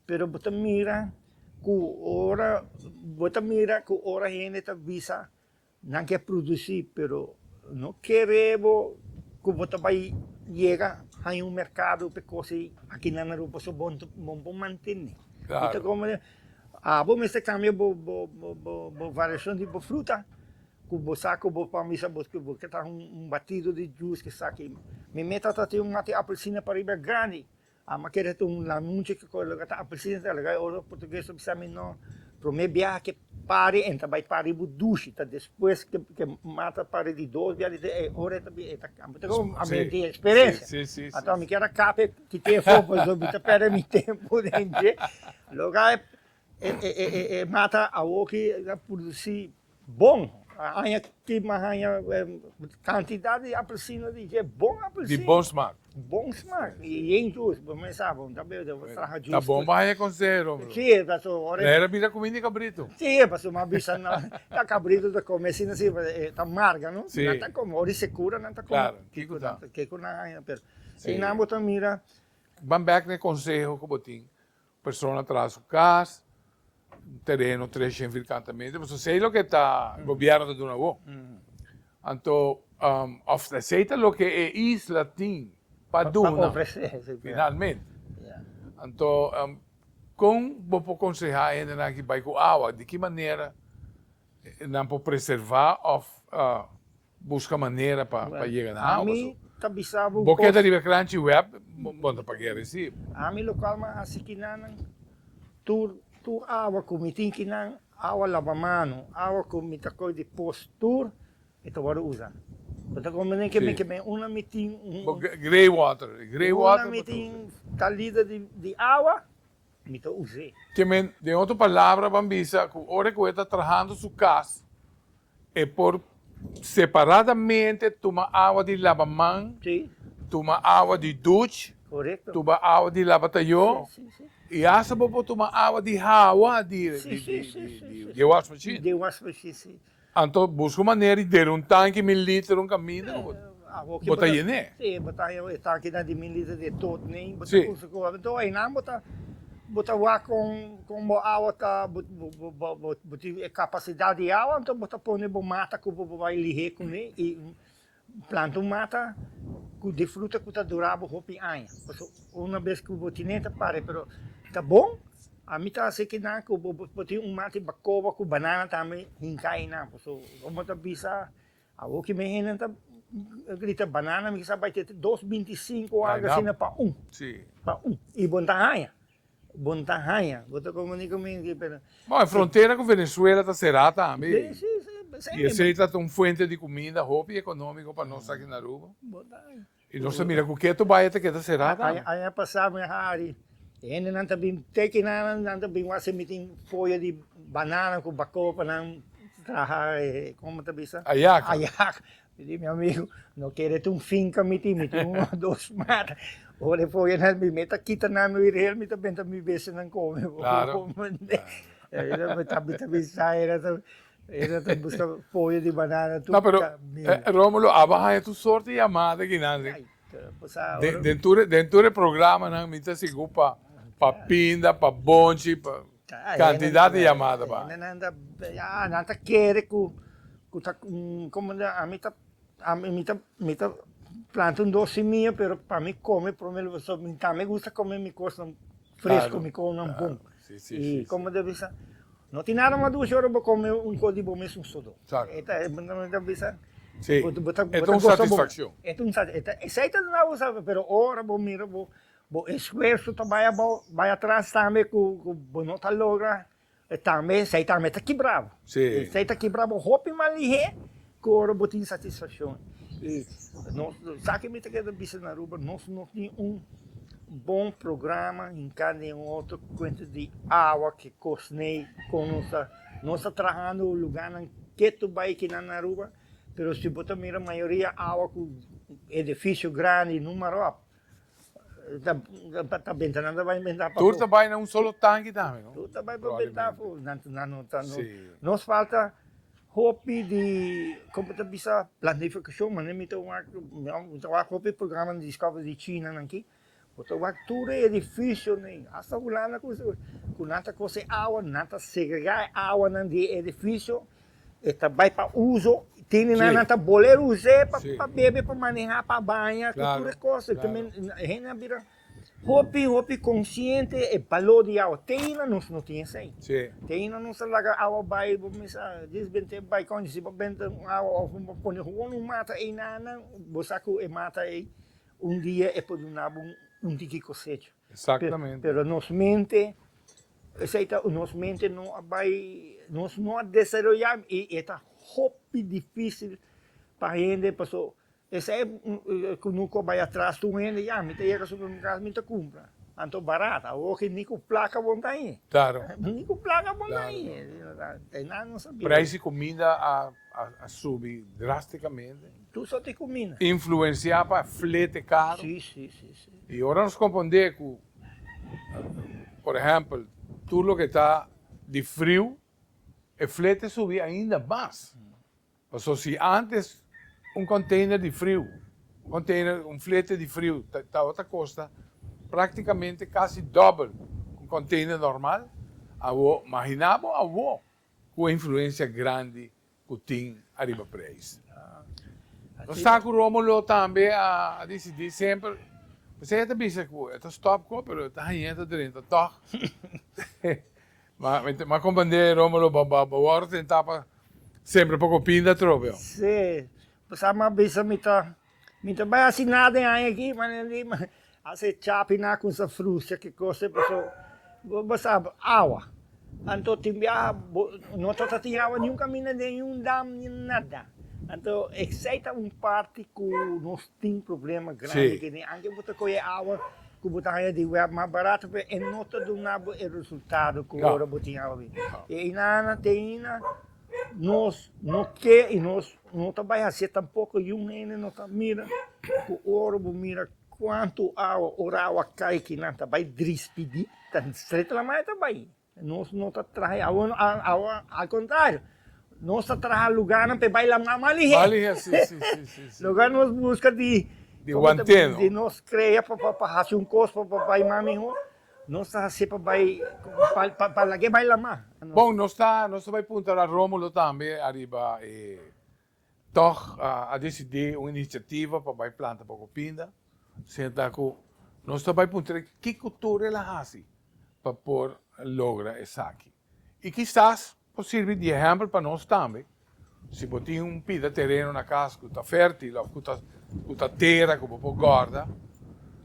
pero bo ta mira ku ora bo ta mira ku ora hende ta bisa nan ke produsi pero no kere bo ku bo ta bai yega haña un merkado pe kos aki nan na rumpa so bon bon pa mantene. Klaro. Abo mester cambia bo bo variacion di bo fruta cu bo sa cu bo por bisa bo cu bo ke ta un batido di juice ke sa aki. Mi meta ta tin un mati apelsina pariba grandi, ama keda e ta un lanuchi ke con loke ta apelsina ta loke e otro portugues ta bisa mi no, prome biaha ke pari enta bai pari bo dushi ta despues ke mata pari di dos biaha di tres e ora e ta cambia ta kos a mi tin experencia. Anto mi kier a capa e. Kiko e for paso mi ta perde mi tempo den dje loke e mata awor ki a produci bon aña ki mas aña cantidad di apelsina di dje bon apelsina di bon smak di bon smak y yen jus bo mester sa bo no ta bebe den bo traha jus ta bon bo haña conseho don Bruno si paso ora e bira cumi di cabrito si paso mi a bisa nan ta cabrito ta come asina si ta marga no si nan ta come ora di secura nan ta come claro kiko ta kiko nan haña pero. Einan bo ta mira, ban bek na e konseho ku bo tin, persona traha su kas, tereno tres shen fir kanta meter, pasobra esei loke ta gobièrnu ta duna bo. Anto òf esei ta loke e isla tin pa duna finalmente. Anto kon bo por konsehá e hendenan aki bai ku awa? Di ki manera nan por preservá òf. Buska manera pa yega na hao paso bo keda riba e crunchy web bo no ta pag'e recib. Ami lo cual mi a haci ki nanan tur tur awa cu mi tin ki nan awa laba mano, awa cu mi ta coge di post tur e ta wordo usa. Bo ta comprende ke men ke men una mi tin un. Bo grey water, grey water bo ta usa. Una mi tin talida di awa. mi ta us'é. Ke men, den otro palabra ban bisa ku ora ku e ta trahando su kas, e por separadamente tuma awa di labaman, tuma awa di duch, tuma awa di labatayó, i hasta bo por tuma awa di hawa di e wash machine. Anto busca un manera di dera un tanki mil liter un caminda cu bo ta yené. Sí, bo ta haña e tankinan di mil liter den tot nei, bo ta usa cu anto einan bo ta bo ta wak con con bo awa ta bo bo tin e capacidad di awa anto bo ta pone bo mata cu bo bo bay lihé cun'é y Planta un mata cu di fruta cu ta dura bo hopi aña, pasobra una bes cu bo tine ta pare, pero ta bon, ami ta haci kinan cu bo por tin un mata di bacoba cu banana tambe hinca ayinan, pasobra wan bo ta bisa awor cu mi hende ta grita banana mi kiza bay te dos binti sinco o algo asina pa un, pa un, y bo no ta haña. Bo n'ta haña. Bo ta komunika mi aki pero. Bo, e frontera ku Venezuela ta será tambe. I esei ta ta un fuente di kumida hopi ekonómiko pa nos aki na Aruba. I nos ta mira ku ke tu bai e ta keda será tambe. Aña pasá mi a hari, e hendenan ta bin teki nan, nan ta bin wak semi tin foyo di banana ku bakó pa nan traha e, kòm ta bisa? Ayaka. Ayaka. Mi di mi amigu, no kere ta un finka mi tin, mi tin un o dos mata. Ora e foge nan bini, mi ta kita nan mi riel, mi ta benta mi besenan kome bo. Claro. Mi ta bisa era ta, era ta buska foge di banana tur. No, pero, Romulo, abo haña tur sort di yamada kinan si. Den tur e programanan mi ta sigur pa pinda, pa bonchi, pa. Kantidat di yamada pa hende. Nan ta ya, nan ta kere ku ku ta komo ami ta mi ta mi ta planta un dos simia pero pa mi kome prome lugar so mi tambe gusta kome mi kosnan fresko mi kounan bon i komo ta bisa no tin nada mas dushi ora bo kome un kos di bo mes un sodó e ta mi ta bisa bo ta bo ta goso bo e ta un satisfakshon esei ta duna bo sa pero ora bo mira bo Bo esfuerso ta bai abao, bai atras tambe cu bo no ta logra, e tambe, esey tambe ta kibra bo. Sí. Esey ta kibra bo hopi malihé cu ora bo ta insatisfaccion. Y nos, esaki mi ta keda bisa na Aruba, nos no tin un bon programa hinca den un otro cuenta di awa cu cosney, con nos ta, nos ta trahando lugarnan ketu bai aki na Aruba, pero si bo ta mira mayoria awa cu edificio grandi, numaroa. Tur ta bai na un solo tanki tambe no? Tur ta bai pa benta afo. Nos falta hopi di, como ta bisa, planificacion, maneer mi ta wak, mi ta wak hopi programa di Discovery di China nan aki, bo ta wak tur e edificionen, hasta Hulanda, ku nan ta kos e awa, nan ta segrega e awanan di e edificio E ta bai pa uso, tene nan nan ta boler us'é pa pa bebe, pa manehá, pa baña, ku tur e kos. Hende a bira hopi, hopi konsiente e baló di awa. Te aina nos no tin esei. Te aina nos ta laga awa bai, bo mester a desbent'é bai konchi. Si bo benta un awa òf bo pone hon un mata ei nan nan, bo sa ku e mata ei un dia e por duna bo un tiki kosecha. Exactamente. Pero nos mente, esai ta, nos mente no a bai, nos no a desaroyá i e ta hopi difícil pa hende, paso esei ku no kua bai atras tur un hende, ya mi ta yega supermerkado mi ta kumpra, anto barat, awor ke ni ku plaka bo no ta ahi, Klaro. ni ku plaka bo no ta ahi, e nan no sabia. Preis di kuminda a subi drástikamente. Tur sort di kuminda. Influensiá pa flete karo. Si, si, si. I ora nos kompondé ku, por ehèmpel, tur loke ta di friu, e flete subi ainda mas. Pasobra si ántes un konteiner di friu, un konteiner, un flete di friu tabata kosta práktikamente kasi dòbel ku un konteiner normal, awor, mahiná bo awor ku e influensia grandi ku tin ariba preis. Nos sa ku Rómulo tambe a disidí semper, p'esei e ta bisa ku e ta stòp ku, pero e ta hañ'é e ta drenta tòg. M'a komprendé Rómulo, bo a wòrdu tentá pa semper poko pinda atrobe. Sí, p'esei m'a bisa mi ta Mi ta bai hasi nada den aña aki, manera di mi a ser chapi na con sa frustra ki cosa, paso bo bo sa awa, anto tin biaha bo no ta ta tin awa ni un caminda den un dam ni nada, anto esey ta un parti cu nos tin problema grandi aki den aña, bo ta coge awa cu bo ta haña di wea mas barato pero e no ta duna bo e resultado cu ora bo tin awa avi, y ey nan a teyna nos no ke y nos. No ta bai hasié tampoko yun hende no ta mira ku ora bo mira kuantu awa ora awa kai ki nan ta bai drispidí ta stret laman e ta bai. Nos no ta traha e awa awa al kontrario nos ta traha lugarnan pa e bai laman mas lihé. Mas lihé si si si si si. Loke a nos buska di Di wanteno. di nos krea pa pa pa hasi un kos pa pa bai mas mihó Nos ta hacé pa bai pa lagué bai lamá. Bon nos ta nos ta bai punta ra Romulo tambe ariba e tog a decidí un iniciativa pa bai planta poco pinda senta cu nos ta bai puntra kico tur el a haci pa por logra esaki y kisas Por sirbi di ehèmpel pa nos tambe. Si bo tin un pida tereno na kas ku ta fèrtil òf ku ta tera ku bo por gòrda,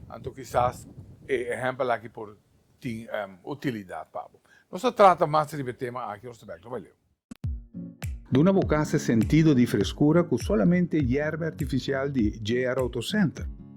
anto kisas e ehèmpel akí por tin utilidat pa bo. Nos a trata mas riba e tema akí ora su bèk lo bai leu. Duna bo kas e sentido di freskura ku solamente yèrba artifisial di JR Auto Center.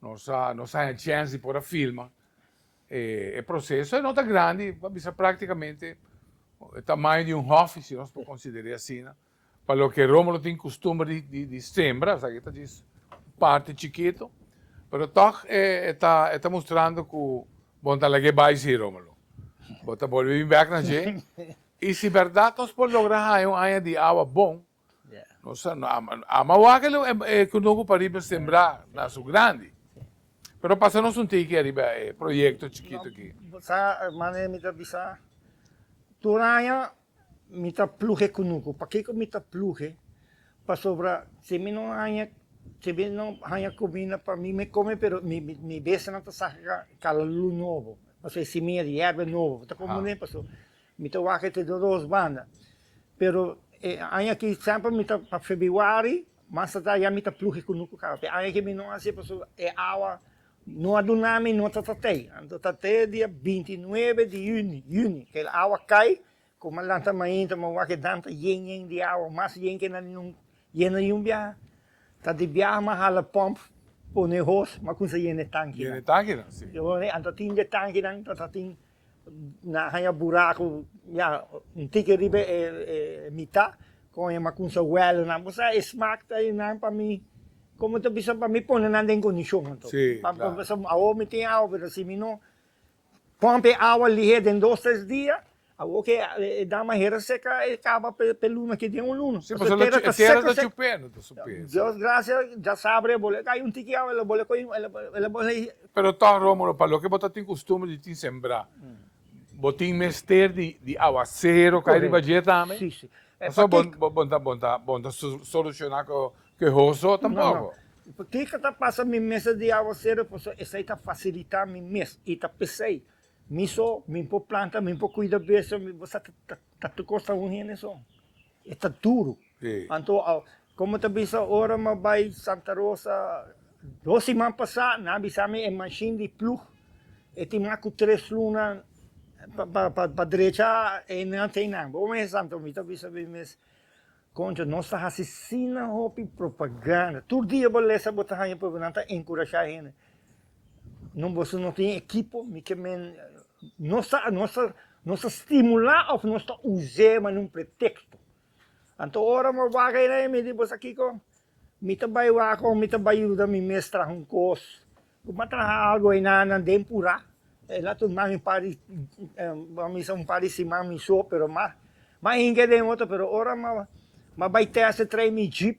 Nos a nos haña chèns di por a filma e proseso. E no ta grandi, pa bisa práktikamente e tamaño di un hòfi, si nos por konsider'é asina. Pa loke Rómulo tin kustumber di sembra, esaki ta djis un parti chikitu. Pero tòg e ta e ta mustrando ku bon ta lag'é bai sí, Rómulo. Bo ta bolbe bin bèk na dje. I si bèrdat nos por logra haña un aña di awa bon. Nos ta ama wak el e kunuku pa riba sembrá na su grandi. Pero pasa nos un tiki ariba e proyekto chikitu aki. Sa manera mi ta bisa? Tur aña mi ta plug'e kunuku. Pakiko ku mi ta plug'e? Pasobra si mi no haña, si mi no haña kuminda pa mi me kome pero mi mi bestianan ta saca kalalu nobo. Pasobra e simia di yèrbia nobo ta komo den. Paso. Mi ta wak e te den dos banda. Pero e aña aki semper mi ta pa febiuari mas tardá ya mi ta pluh'e kunuku ku kaba. P'e aña aki mi no hasié pasobra e awa no a duna mi, no ta tat'ei. Anto ta te dia binti i nuebe di yüni, yüni, k'e awa kai, komo a lanta mainta m'e wak e dam ta yen yen di awa, mas yen ke na lion yena di un biaha. Ta di biaha m'a hala pòmp, pone hos, m'a kumsa yena e tankinan. Yena e tankinan, si. Anto tin di e tankinan ta tin Na haña buraku ya un tiki riba e mita con e macunsa huelonan bo sa e smaak ta e nan pa mi como ta bisa pa mi pone nan den condicion anto si claro paso awo mi tin awa pero si mi no pump e awa lihe den dos tres dia awo ke e dama hera seca e caba pe luna aki den un luna si paso e tera ta seco seco si paso e tera ta chupe no ta sope Dios gracia ya sabra e bole hay un tiki awa el a bole coye el a bole Pero tòg, Rómulo, pa loke bo ta tin kustumber di tin sembrá, bo tin mester di awasero kai riba dje tambe? Pasobra bo bo bo ta bo ta bo ta solushoná kehoso tampoko. Pakiko ku ta pasa mi mester di awasero? Pasobra esei ta fasilitá mi mes i ta pesei. Mi so, mi por planta, mi por kuida bèstia, bo sa ta ta ta tur kos ta un hende so. E ta duru. Anto a como ta bisa ora mi a bai Santa Rosa dos siman pasa nan a bisa mi e machine di plug e tin mas cu tres luna pa drecha e nan tey nan bo mes Santo mi ta bisa mi mes concho nos ta hasi sina hopi propaganda tur dia bo lesa bo ta haya nan ta encurasha hende No boso no tin ekipo, mi ke men nos ta nos ta nos ta stimulá òf nos ta us'é manera un preteksto. Anto ora mi a wak ayina e mi di boso kiko? Mi ta bai wak òf mi ta bai yuda mi mes traha un kos? Ku m'a traha algu ayina nan den purá, e laat un man un par di bo a bisa un par di siman mi so, pero m'a m'a hinga den otro, pero ora m'a m'a bai tèst e trae mi jeep,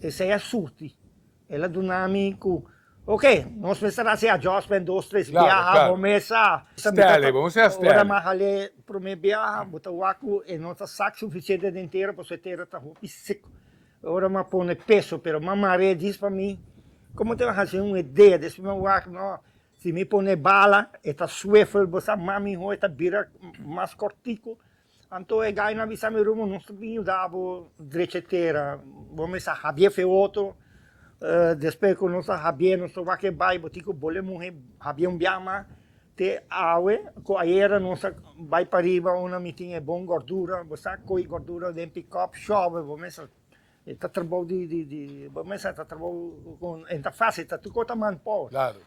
Esei a surti. El a duna mi ku, Ok, nos mester a hasi adjustment dos tres biaha, bo mes a stèlè, bo mester a stèlè. Ora mi a hal'e promé biaha, bo ta wak ku e no ta sak sufisiente den tera, pasobra e tera ta hopi siko. Ora mi a pone peso, pero mi a mar'e e dis pa mi, komo te mi a hasi un idea, despues mi a wak, nò, si mi pone bala, e ta swivel, bo sa mami hoi ta bira mas kòrtiku, Anto e gainan a bisa mi, Rumo, nos ta bin yuda bo drecha e tera, bo mes a habié feoto, despues cu nos a habié nos ta wak e bai, bo tin cu bol e muhe habié un biaha mas, te awe cu ayera nos a bai pariba unda mi tin e bon gordura, bo sa coy gordura den pickup, shobe bo mes a E ta trabou di di di bo mester ta trabou con e ta fácil ta tur cos ta man por claro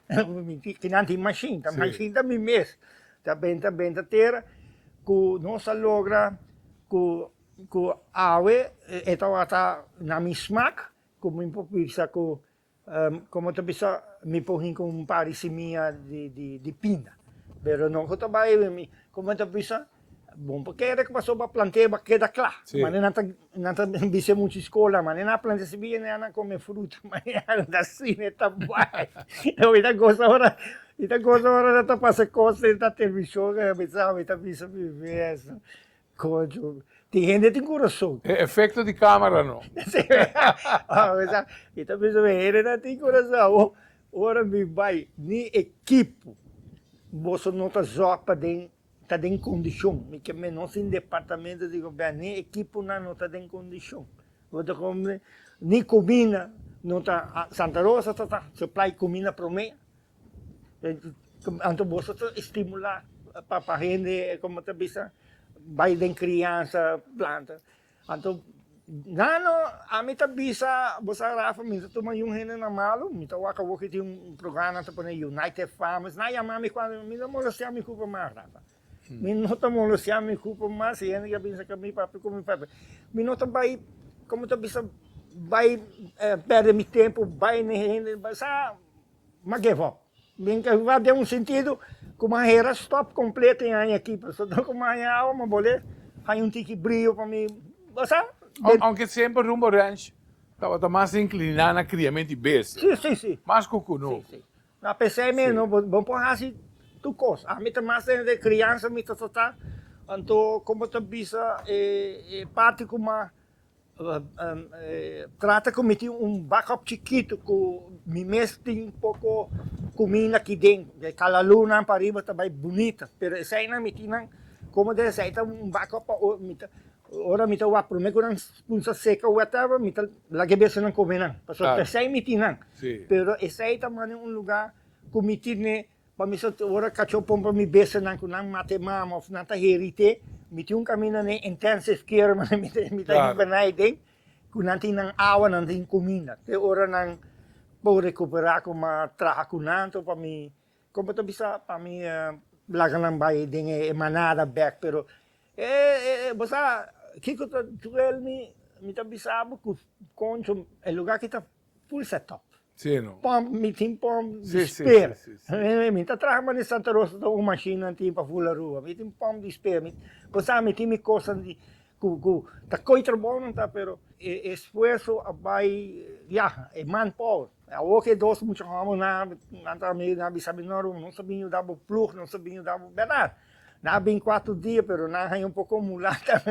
tin nan tin machine ta machine ta mi mes ta benta benta tera cu nos ta logra cu cu awe e tabata na mi smaak cu mi por bisa cu Como ta bisa mi por hin cu un par di simia di pina pero no cu ta bay como ta bisa bon pa kere cu pasobra plantea ba keda cla manera nan ta nan ta bisa mucho scola manera nan a plantea simia nan a come fruta manera nan ta si nan ta bay awe ta gosa ora nan ta gosa ora nan ta pasa cos den television a bisa mi ta bisa mi mes Concho, tin hende tin corazon. E efecto di camera no. Mi ta bisa mi hendenan tin corazon awo. Ora mi bai ni ekipo boso no ta zorg pa den ta den condicion. Mi ke menos tin departamento di gobierno ni ekiponan no ta den condicion. Bo ta compra ni comina no ta Santa Rosa ta ta supply comina prome. Anto boso ta estimulá pa pa hende como ta bisa bai den criansa planta anto nano ami ta bisa bo sa Rafa mi ta tuma yu hende na malu mi ta wak awo kichi un programa nan ta pone United farmers nan a yama mi cuando mi no molosia mi cupo mas Rafa mi no ta molosia mi cupo mas si hende a bisa cami papi cu mi pape mi no ta bai como ta bisa bai perde mi tempo bai ne hende bai sa M'a give up. M'a give up den un sentido cu m'a hera stop completo in aña aki, pasobra cu maña awa m'a bolé haña un tiki brio pa mi, bo sa. Aunke semper Rumbo Ranch tabata mas incliná na criamento di bestia, mas cu cunu. Si, si. M'a p'esei meno bo no por haci tur cos. Ami ta mas den e criansa mi ta tratá, anto como ta bisa e parti cu m'a. Trata cu mi tin un backup chikitu cu mi mes tin poco cuminda aki den, e kalaloonan pariba ta bay bunita, pero esainan mi tin nan como den esai ta un backup pa ora mi ta ora mi ta wak prome cu nan punsa seca whatever mi ta laga e besanan come nan, pasobra esai mi tin nan, pero esai ta manda un lugar cu mi tin e. Pa mi sa ora cachó pon pa mi bestanan cu nan mate mama of nan ta heri té, mi tin un camina na e intensive care ma mi ta mi ta hiba naiden cu nan tin nan awa nan tin cuminda te ora nan por recupera coma traha cu nan to pa mi con bo ta bisa pa mi laga nan bay den e manada bek pero bo sa kico ta duel mi mi ta bisa bo cu concho e lugar ki ta Full set up. Sí no. Pump, mi tin pump di spare. Sí, sí, sí, sí. Mi ta traha mane Santa Rosa ta un machine nan tin pa full Aruba. Mi tin pump di spare. Mi, bo sa, mi tin mi kosanan di, ku, ku ta koi trabou nan ta, pero e esfuerso a bai, yaha, e manpower. Awo ku e dos mucha hombrenan, nan ta amigu, nan a bisa mi, no Ruben, nos ta bin yuda bo plug, nos ta bin yuda bo, berdad. Nan a bin kuater dia, pero nan a haña un poko mulata.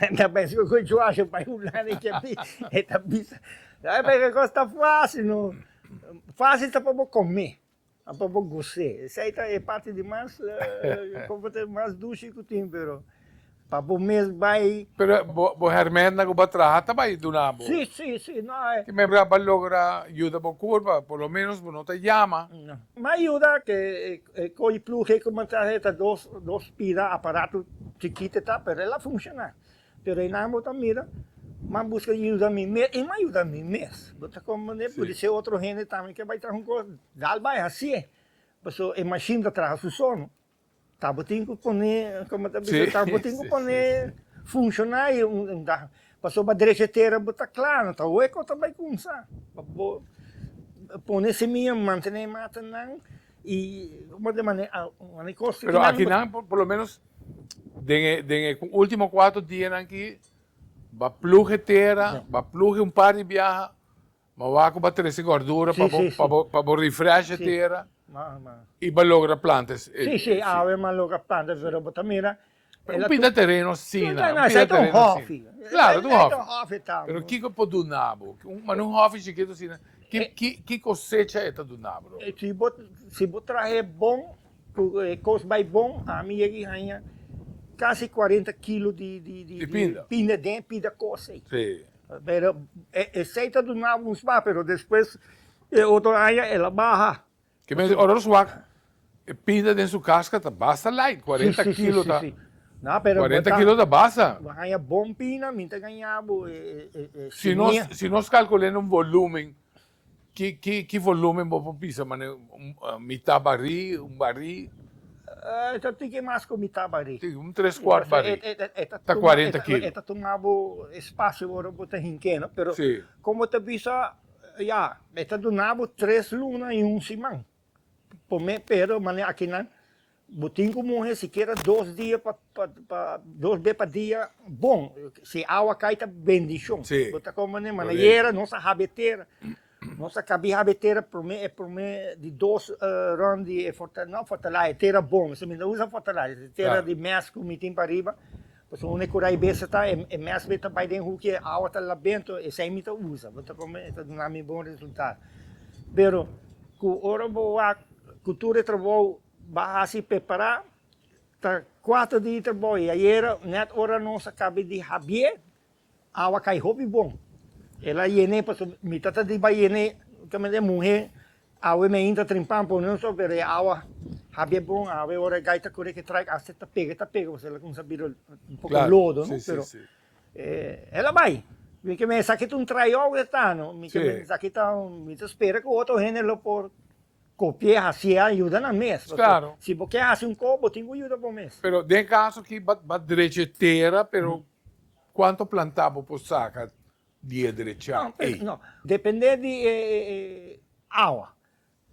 Nan ta pensa, ku ku Joash a bai hulanda i ke api? E ta bisa, Sabi por e kos ta fásil? No. Fásil ta pa bo kome, no pa bo goz'é. Esei ta e parti di mas, konfo ta mas dushi ku tin, pero Pa bo mes bai. Pero bo hermana ku bo a traha ta bai duna bo? Si, si, si. No hay. Ki membro a logra yuda bo kur pa por lo menos bo no ta yama? No. M'a yuda ke e koi plug'e kuminsá e ta dos dos pida aparato chikit e ta pero el a funshoná. Pero einan bo ta mira m'a buska yuda mi mes i m'a yuda mi mes. Bo ta komprendé? Puede ser otro hende tambe ke bai traha un kos dal bai hasié. Paso e mashin ta traha su solo. Tabotin cu pone, como ta bisa, tabotin cu pone funciona ahi un dag, pasobra drecha tera bo ta cla, no ta hooi cu ta bay cumsa, pa bo pone semilla, mantene matanan y como ta mane mane costa ki nan. Pero aki nan por lo menos den e den e ultimo cuatro dianan aki ba plug e tera, ba plug un par di biaha, Ma wak ku bo a trese gordura pa bo pa bo pa bo refresh e tera i bo a logra planta e seed. Si si awe bo a logra planta e seed pero bo ta mira e la pinta tereno asina un pinta tereno asina claro ta un hòfi pero kiko e por duna bo manda un hòfi chikitu asina ki kosecha e ta duna bo lo si bo si bo traha e bon ku e kos bai bon ami yega i haña kasi kuarenta kilo di di di pinda pinda den e pida kos ei. Pero esey ta duna un sma pero despues e otro aña el a baha. Ke mester di ora nos wak e pinda den su kas ka ta basta light, cuarenta kilo ta cuarenta kilo ta basta. Bo a haña bon pina, mi ta gaña bo e semia. Si nos calcul'e na un volumen Ki volumen bo por bisa mane mitá barí, un barí? E ta tin ke mas ku mitá barí. Tin un tres kuart barí. Ta kuarenta kilo. E ta tuma bo espasio ora bo ta hink'é, no? Pero kon bo ta bisa, ya, e ta duna bo tres luna i un siman. P'e mane akinan Bo tin ku muhe sikiera dos dia pa pa dos be pa dia bon si e awa kai ta bendishon si bo ta kon mane manayera nos a habi e tera nos a kabi habi e tera prome e prome di dos rond di e forta no fortalai e tera bon esei mi ta usa fortalai e tera di mes ku mi tin pariba. Pasobra un e kura e besta ta e mes be ta bai den huki e awa ta la bento esei mi ta usa bo ta kon mi e ta duna mi bon resultado pero ku ora bo wak ku tur e trabou ba hasi pepara ta kuater di trabou i ayera net ora nos a kabe di habier Awa cay hopi bon. El a yene pasobra mi tata di bay yene justamente e muhe awe mi a intra trimpan pone un so pero e awa habia bon awe ora e gay ta corre ke traik aste ta pega ta pega pasobra el a cuminsa bira un poco lodo no pero el a bay mi ke mester esaki ta un tryout e ta no mi ke mester esaki ta un mi ta spera ke otro hende lo por copie hacia y yuda nan mes pasobra si bo ke haci un cos bo tin cu yuda bo mes. Pero den e caso aki ba drecho e tera pero Cuanto planta bo por saca di e drecha ey? No, depende di e awa.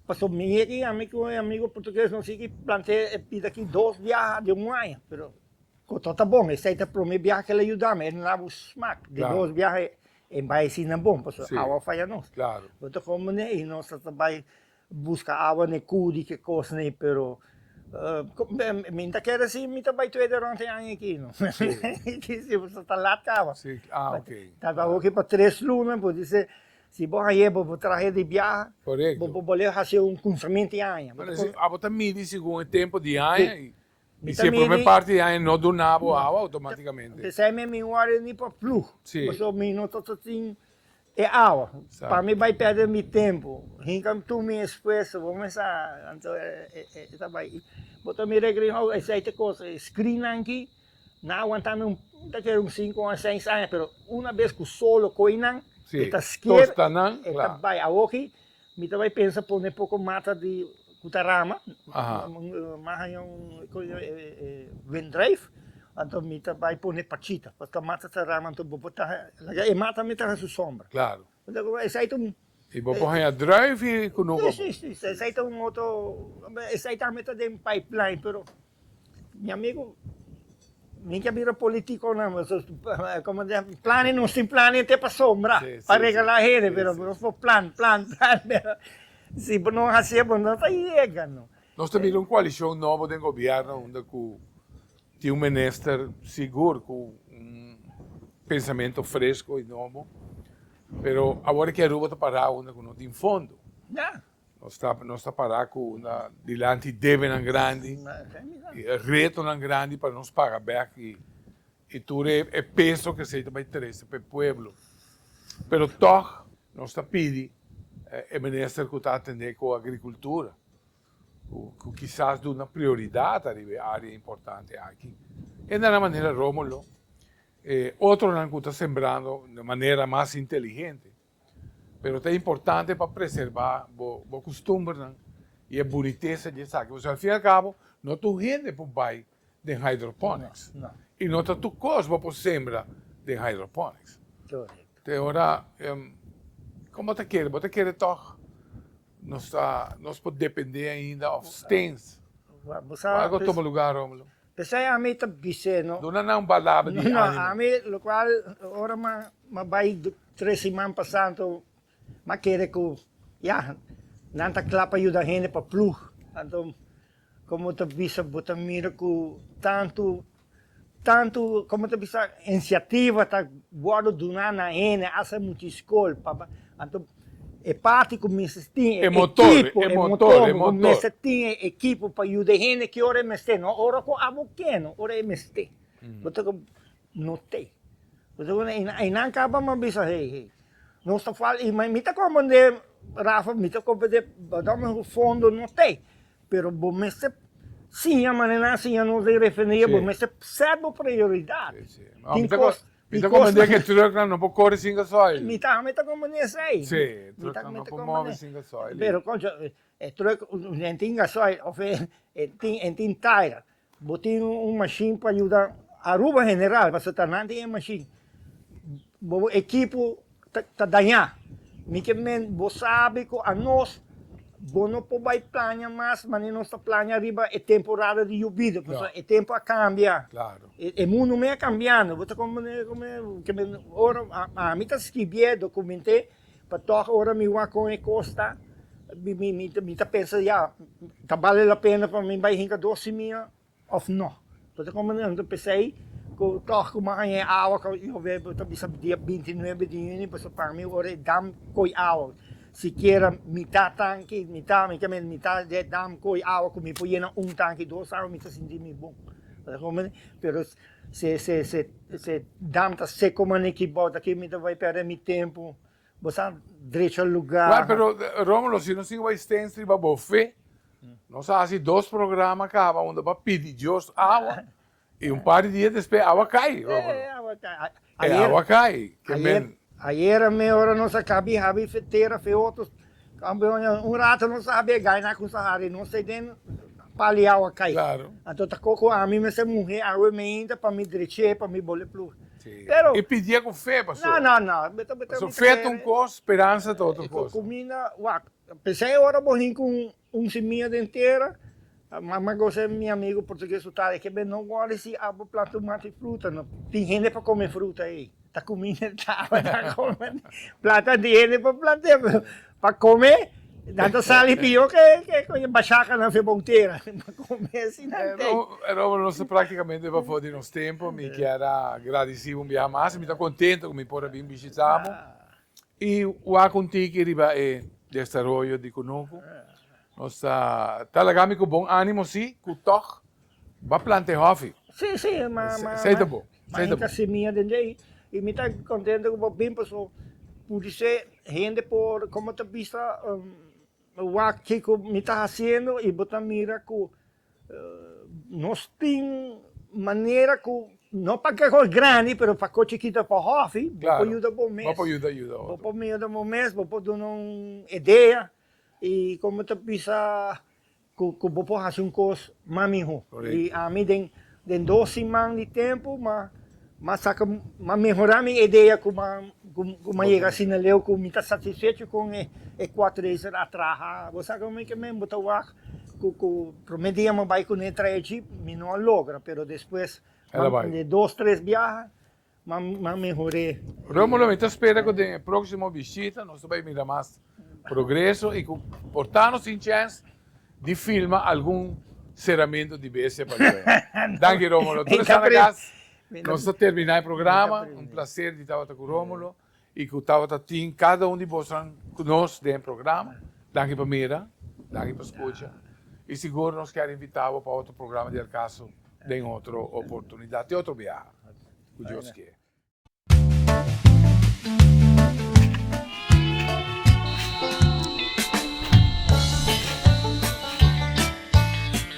Pasobra mi e tin, ami cu e amigo portugues nos tin ki planta e pita aki dos biaha den un aña, pero cu tot ta bon, esey ta prome biaha cu el a yuda mi, el no daba un smak, den dos biaha e bai asina bon, pasobra awa a faya nos. Bo ta con bo ne y nos ta ta bai Buska awa n'e kuu di ke kos n'e pero mi n'ta kere si mi ta bai tueda rònt e aña aki no so ta lat kawa ta ta hopi pa tres luna bo di se si bo hañ'e bo bo trahe di biaha bo por boleo hasi un kunsament di aña abo ta midi segun e tempu di aña i si e prome parti di aña no duna bo awa automaticamente p'esei mi wòrdu ni pa ploeg pasobra mi no ta tin E awa, pa mi bai perde mi tempu, hinka tur mi esfuerso, bo mester a, anto e ta bai. Bo ta mira e gringo, oh, esei ta cosa, e screennan aki, nan a wantami un, ta kere un sinku aña, seis aña, pero una bes ku solo koinan, e ta skier, e ta bai. Awoki, Mi ta bai pensa pone poko mata di ku ta rama, mas haña un windrijf, anto mi ta bai pone pachita, pask ta mata ta rama anto bo por taha, laga e mata mi taha su sombra. Claro. Esai ta un. I bo por haña drijf i kunuko. Si, si, si, esai ta un otro, esai tambe ta den pipeline, pero. Mi amigu, mi ke bira politico nan, como di nan, plane nos tin plane te pa sombra, pa regala hende, pero nos por plan, plan, plan, pero si bo no haci e bo no ta yega no. Nos ta bira un coalicion nobo den gobierno unda cu tin un minister sigur cu un pensamento fresco y nobo, pero awor e ke Aruba ta para unda cu no tin fondo. Nos ta nos ta pará ku una dilanti debenan grandi i e retonan grandi pa nos paga bèk i i tur e e peso ku esei ta bai trese pa e pueblo. Pero tòg nos ta pidi e minister ku ta atendé ku agrikultura ku ku kisas duna prioridat ariba e área importante aki. E na na manera Rómulo e otronan ku ta sembrando na manera mas inteligente. pero ta importante pa preserba bo bo kustumbernan i e bunitesa di esaki pasobra al fin al kabo no tur hende por bai den hydroponics i no ta tur kos bo por sembra den hydroponics te ora komo ta kere bo ta kere tog nos ta nos por depende ainda of stains bo algo tuma lugar Romulo. P'esei ami ta bis'é, No. Duna nan balada di ánimo. No, ami, lokual ora m'a bai tres siman pa Santo, m'a kere ku, ya, nan ta kla pa yuda hende pa plug. Anto, komo ta bisa bo ta mira ku tantu, tantu, komo ta bisa, insiativa ta wòrdu duna na hende, hasta e muchi skol, pa, anto. E parti ku mester tin e ekipo, e motor, ku mester tin e ekipo pa yuda e hende ki ora e mester, no ora ku abo keno, ora e mester. Bo ta kaba not'e. Bo ta kaba not'e, einan kaba mi a bisa, hey, hey, nos ta falta, i mi ta koba den e, Rafa, mi ta koba den e, bo ta koba fondo not'e, pero bo mester siña manera nan siña nos den refineria, bo mester sèt bo prioridat. Tin kos. Mi ta comprende que truck nan no por corre sin gasoil. Mi tambe ta comprende esey. Sí, truck nan no por move sin gasoil. Pero concho, e truck e tin gasoil of e e tin tire. Bo tin un machine pa yuda Aruba en general, pasobra ta nan tin e machine. Bo bo equipo. ta dañá. Mi ke men bo sabi ku anos bo no por bai plaña mas mane nos ta plaña riba e temporada di yubido, pasobra e tempu a kambia. Klaro. E mundu me a kambiando. Bo ta komprendé kome ke men ora ami ta skibié dokument'é pa tòg ora mi wak kon e kos ta mi ta pensa ya ta bale la pena pa mi bai hinka dos simia. Of no. Bo ta comandante p'esey cu tog cu manga e awa cu yo web bo ta bisa dia binti nuebe di juni bo sa paga mi ora e dam coy awa sikiera mita tanki mita mi ta mira mita de dam coy awa cu mi por yena un tanki dos awa mi ta sinti mi bon bo ta comprende pero se se se dam ta seco maneki bou ta ki mi ta bay perde mi tempo. Bo sa drecho luga. Right pero Romulo si nos tin wai stens riba bofe nos a hasi dos programa kaba unda pa pidi Dios awa y un par di dia despe awa cay Romulo e awa cay. Ayer ayer a mehora nos a kabi habi fetera feotos Campeones un rato nos a habia gana cu Sahara y nos ta den paliao a cay. Claro. Anto ta coco ami mester muhe awe meinta pa mi dreche, pa mi bole plug. Sí. Pero. Y pidia cu fe paso. No, no, no. Beta, beta. Paso fe ta un cos, speranza ta otro cos. Cu, cu mina, wak, p'esey ora bo hin cu un, un semilla den tera. Mama gosa e mi amigo portugues su taya ke be no wòrri si abo planta un mati fruta no tin hende pa kome fruta ei ta kumi ne tabata kome planta tin hende pa plantea pero pa kome nan ta sali pio ke e bashaka nan fe bou tera pa kome si nan te. Robert nos ta praktikamente bafo di nos tempo mi kier a gradisi un biaha mas mi ta kontento ku mi por a bin bishita bo I wak un tiki riba e desaroyo di Kunuku. Nos ta laga mi ku bon animo si, ku tog ba planta e hofi. Si, si, ma, ma, ma, Seita bo, ma seita hinka bo. semia den dje. I mi ta kontento ku bo bin paso pudi se hende por, komo ta bista wak kiko mi ta hasiendo i bo ta mira ku Nos tin manera ku, no pa ke kos grandi, pero pa kos chikito pa hòfi, bo por yuda bo mes. Bo por yuda yuda otro. Bo por yuda bo mes, bo por duna un idea i komo ta bisa ku bo por hasi un kos mas mihó. Correcto. I ami den Den dos siman di tempu m'a m'a saca m'a mehora mi edea cu m'a cu m'a yega asina leu cu mi ta satisfecho con e e quad racer a traha. Bo sa con mi kimen bo ta wag cu cu prome dia m'a bay cune trae jeep mi no a logra pero despues m'a den dos tres biaha M'a mehor'é. Rómulo, mi ta spera ku den e próksimo bishita nos ta bai mira mas progreso i ku por ta nos tin chèns di filma algun seramentu di Bestia pa Lue. Danki Rómulo. Tur esnan na kas, nos ta terminá e programa. Un plaser di tabata ku Rómulo. y cu tabata tin cada un di bosnan cu nos den e programa. Danki pa mira, danki pa scucha y sigur nos ker invita bo pa otro programa di El Caso den otro oportunidad te otro biaha cu Dios kier.